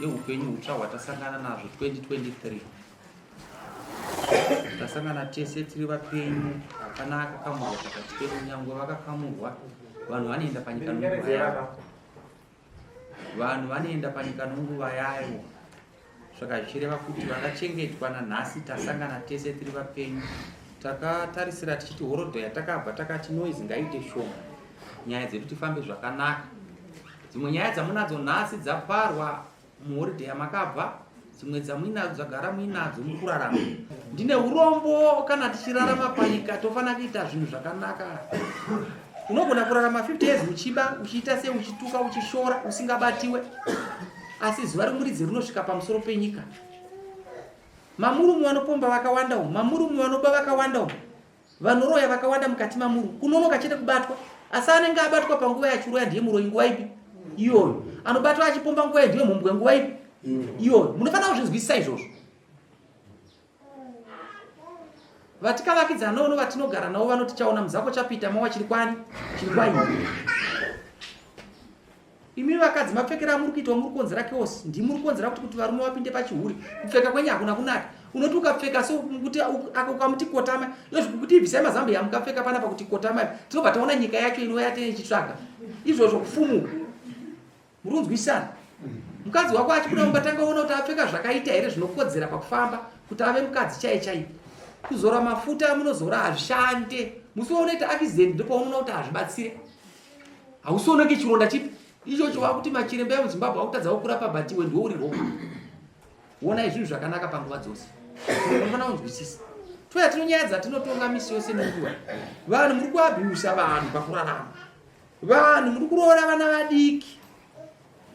yeupenyu hutsva hwatasangana nazvo 2023 tasangana tese tiri vapenyu hapana akakamurwa pakati pedu nyangwe vakakamurwa vanhu vanoenda panyika nunguva yavo vanhu vanoenda panyika nunguva yavo Saka zvichireva kuti vakachengetwa nanhasi tasangana tese tiri vapenyu. Takatarisira tichiti horodho yatakabva takati noise ngaite shoma. Nyaya dzedu tifambe zvakanaka. Dzimwe nyaya dzamunadzo nhasi dzaparwa muhoridhe yamakabva dzimwe dzamuinadzo dzagara muinadzo mukurarama ndine urombo kana tichirarama panyika tofanira kuita zvinhu zvakanaka unogona kurarama 50 years uchiba uchiita sei uchituka uchishora usingabatiwe asi zuva romuridzi rinosvika pamusoro penyika mamurume vanopomba vakawanda umu mamurume vanoba vakawanda umu vanoroya vakawanda mukati mamuru kunonoka chete kubatwa asi anenge abatwa panguva yachiroya ndiye muroyi nguva ipi iyoyo anobatwa achipomba nguva ndiye mhumbwe nguva ipi iyoyo munofanira kuzvinzwisisa izvozvo vatikavakidzana nono vatinogara navo vanoti chaona muzako chapita mawa chiri kwani chiri kwaini imi vakadzi mapfekera amuri kuitwa muri kukonzera keosi ndimuri kukonzera kuti kuti varume vapinde pachihuri kupfeka kwenye hakuna kunaka unoti ukapfeka so kuti ukamuti kotama yozvikuti ibvisai mazambo yamukapfeka panapa kuti kotama tinobva taona nyika yacho inouya teichitsvaga izvozvo kufumuka murunzwisana mukadzi wako achibuda mumba tanga ona kuti apfeka zvakaita here zvinokodzera pakufamba kuti ave mukadzi chaiye chaiye kuzora mafuta amunozora hazvishande musi waunoita accident ndopaunoona kuti hazvibatsire hausioneke chironda chipi ichocho wakuti machiremba emuzimbabwe akutadzawo kurapa batiwe ndiwo uri ropa wonai zvinhu zvakanaka panguva dzose unofana kunzwisisa toya tinonyaya dzatinotonga misi yose nenguva vanhu muri kuabiusa vanhu pakurarama Vanhu muri kuroora vana vadiki.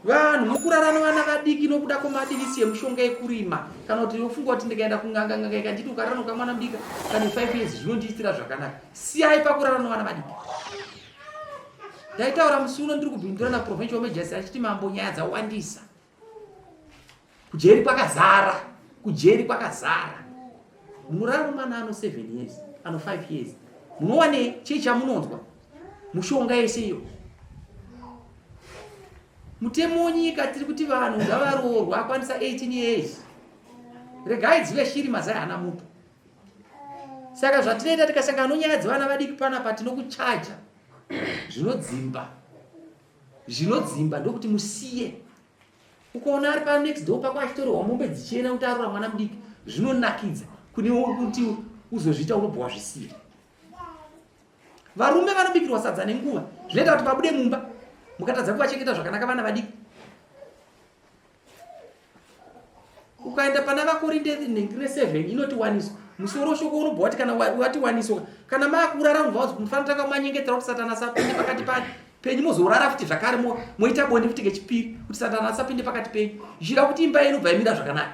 Vanhu muri kurara nevana vadiki nokuda kwemadivisi yemushonga yekurima. Kana kuti unofunga kuti ndikaenda kunganga nganga ikanditi ukarara nokamwana mudika kana 5 years zvinondiitira zvakanaka. Siyai pakurara nevana vadiki. Ndaitaura musi uno ndiri kubindura na Provincial Major achiti mambo nyaya dzawandisa. kujeri kwakazara kujeri kwakazara munorara nomwana ano 7 years ano 5 years munowane chii chamunonzwa mushonga yese iyo mutemo wenyika tiri kuti vanhu ngavaroorwa akwanisa 18 years regai dzive shiri mazai hana mutu saka zvatinoita tikasangana nonyaya dzevana vadiki panapa tinokuchaja zvinodzimba zvinodzimba ndokuti musiye ukaona ari pa next door pako achitorehwa mombe dzichienda kuti arura mwana mudiki zvinonakidza kune kuti uzozviita unobva wazvisiya varume vanobikirwa sadza nenguva zvinoita kuti vabude mumba mukatadza kuvachengeta zvakanaka vana vadiki ukaenda pana vakorinde nengire 7 inoti waniso musoro shoko unobva wati kana wati waniso kana maakurara unobva wazi mufanira tanga manyengetera kuti satana asapinde pakati pani penyu mozorara futi zvakare moita bonde futi kechipiri kuti satana asapinde pakati penyu zvichida kuti imba yenu bva imira zvakanaka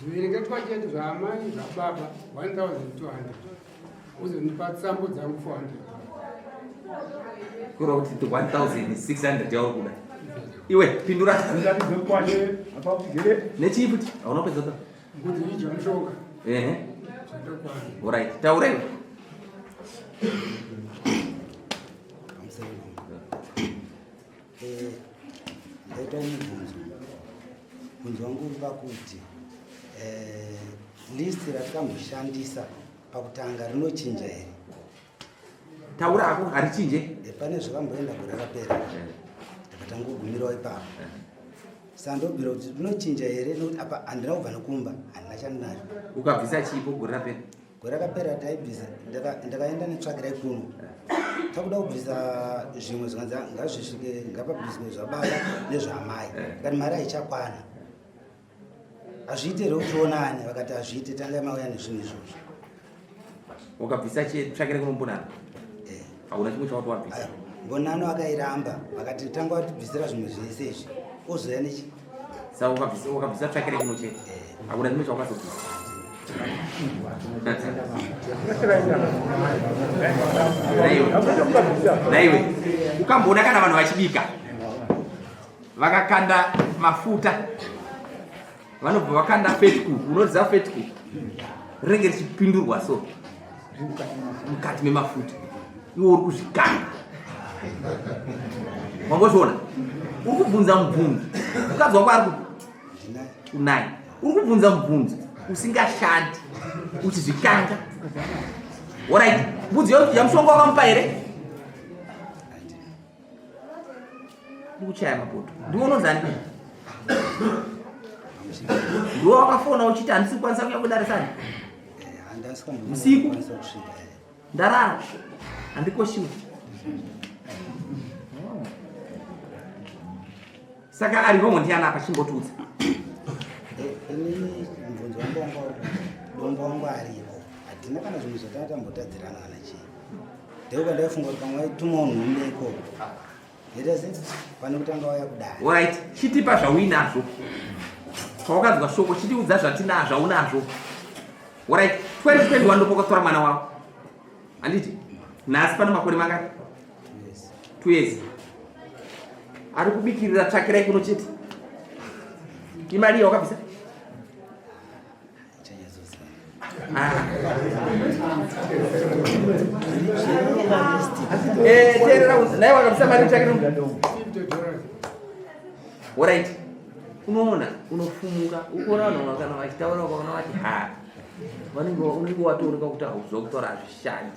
zviverengetwa chete zvaamai zvababa 1200 uzondipa tsambo dzangu 400 kura kuti 1600 yauri kuda iwe pindura nechii futi hauna kupedza ta ehe orit taura iwe Eh, ndaita mubvunzo mubvunzo wangu uri pakuti eh, list ratakamboshandisa pakutanga rinochinja here taura hako harichinje eh, pane zvakamboenda gore rapera ndakatangogumirawo ipapo sandobira kuti rinochinja here nekuti apa handina kubva nekumba handina chandinacho ukabvisa chiipo gore rapera gore rakapera taibvisa ndakaenda netsvagira ikuno takuda kubvisa zvimwe zvikanzi ngazvisvike ngapabviswe zvababa nezvaamai kani mari haichakwana hazviite here kutionane vakati hazviite tangai mauya nezvinhu izvozvo wakabvisa tsvakira kuno mbonano eh. hauna chimwe chawati wabvisa mbonano akairamba vakati tanga watibvisira zvimwe zvese izvi ozoya nechi Saka ukabvisa ukabvisa track rake ino chete. Hakuna chimwe chawakazobvisa. Naiwe ukamboona kana vanhu vachibika vakakanda mafuta vanobva vakanda fetku unoziva fetku rinenge richipindurwa so mukati memafuta iwe uri kuzvikana wangozviona uri kubvunza mubvunzo mukadzi wako ari kunai uri kubvunza mubvunzo usingashandi uchizvikanga orit mbudzi yamushonga wakamupa here ndikuchaya mapoto ndiwo unozani ndiwo wakafona uchiti handisi kukwanisa kuya kudarisani usiku ndarara handikoshiwa Saka ari wrong ndiani apa chimbotudza. Ini mvunzo wangu wanga uri dombo wangu aripo. Hatina kana zvinhu zvatanga tambotadzirana kana chii. Ndiko kwandaifunga kuti pamwe waituma unhu umbe ikoko. It is it. Pane kutanga waya kudai. Alright, chitipa zvauinazvo. Pawakanzwa shoko chitiudza zvatinazvo zvaunazvo. Alright, 2021 ndopokotora mwana wako. Anditi? Nhasi pane makore mangani? twezi ari kubikirira tsvakirai kuno chete imari iyo wakabvisa eh, teerera naye wakabvisa mari tsvakira orit unoona unofumuka ukuona vanhu vakana vachitaura ukaona vati ha vanenge unenge watooneka kuti hauzokutaura hazvishandi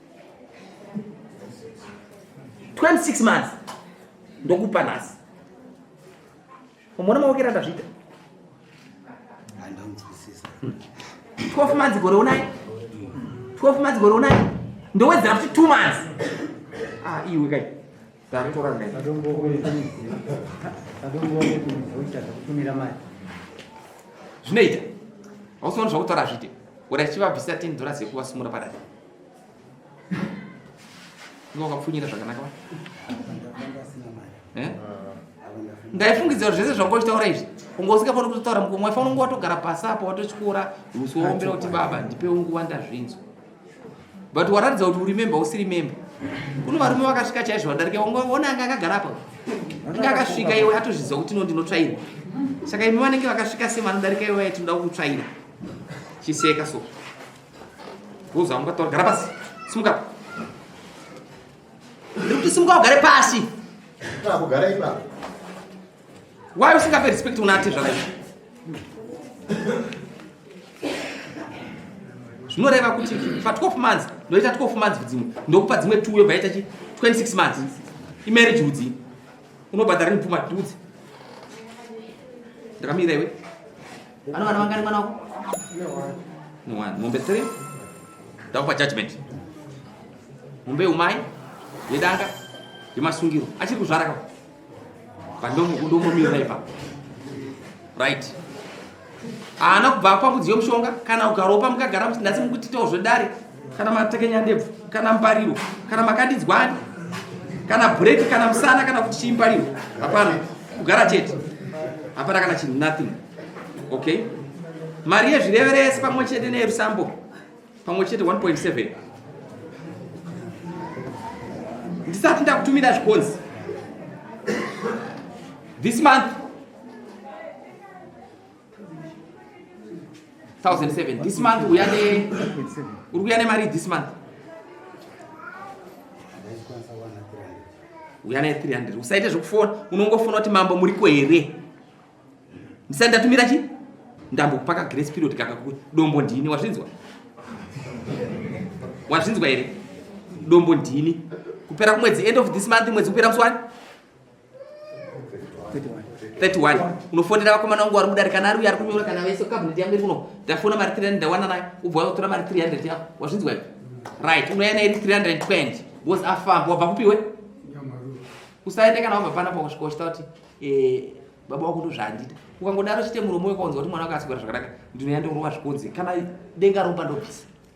26 months ndokupa nhasi umona mawokera ndazviita 12 months gore unai 12 months gore unai ndowedzera kuti 2 months ah iwe kai ndatora ndai zvinoita hausiona zvakutaura zvite ura chivabvisa 10 dollars yekuvasimura padati wakapfunyira zvakanaka eh? ndaifungidza kuti zvese zvanga uchitaura izvi unga usingafaniri kutotaura mukomwe waifanira kunge watogara pasi apo watotyora usi waombera kuti baba ndipewo nguva ndazvinzwa but waratidza kuti uri memba usiri memba kune varume vakasvika chaizvo vadarika ona anga akagara apo inge akasvika iwe atozviziva kuti no ndinotsvaira saka imi vanenge vakasvika semanodarika iwe vaye tinoda kukutsvaira chiseka so Uza unga tora gara pasi. Simuka. Ndikuti simuka ugare pasi. Kana kugara ipapo. Why usingape respect unati zvakadai? zvinoreva kuti pa 12 months ndoita 12 months dzimwe ndokupa dzimwe two yobva yaita chi 26 months imarriage udzi unobhadhara nepfuma tudzi ndakamira iwe Ano vana vangani mwana wako? No one. Mombe 3. Ndakupa judgment. Mombe umai yedanga yemasungiro achiri kuzvara ka. Pandomomira ipa. Right. Ana kubva kwa mudziyo mushonga kana ukaropa mukagara musinasi mukutitawo zvedare kana matekenya ndebvu kana mbariro kana makadidzwani kana bhureki kana musana kana kuti chii mbariro hapana kugara chete hapana kana chinhu nothing okay mari yezvireveresi pamwe chete neyerusambo pamwe chete 1.7 ndisati ndakutumira zvikonzi this month 1007 this month uya ne uri kuya nemari this month uya naye 300 usaite zvekufona unongofona kuti mambo muriko here ndisati ndatumira chi ndambokupaka grace period kakakuya dombo ndini wazvinzwa wazvinzwa here dombo ndini kupera kumwedzi end of this month mwedzi kupera musi wani 31 unofonera vakomana wangu vari mudare kana ari uyo ari kunyora kana vese cabinet yangu iri kuno ndafona mari 300 ndawana nayo ubva watora mari 300 yako wazvinzwa iwe right unouya nayo iri 320 because afamba wabva kupiwe usaende kana wabva pana pakoshikoshita kuti eh, baba wako ndozvaandida ukangodaro chite muromo wekaunza kuti mwana wako asigara zvakanaka ndinoya ndongorova zvikunzi kana denga romba ndobvisa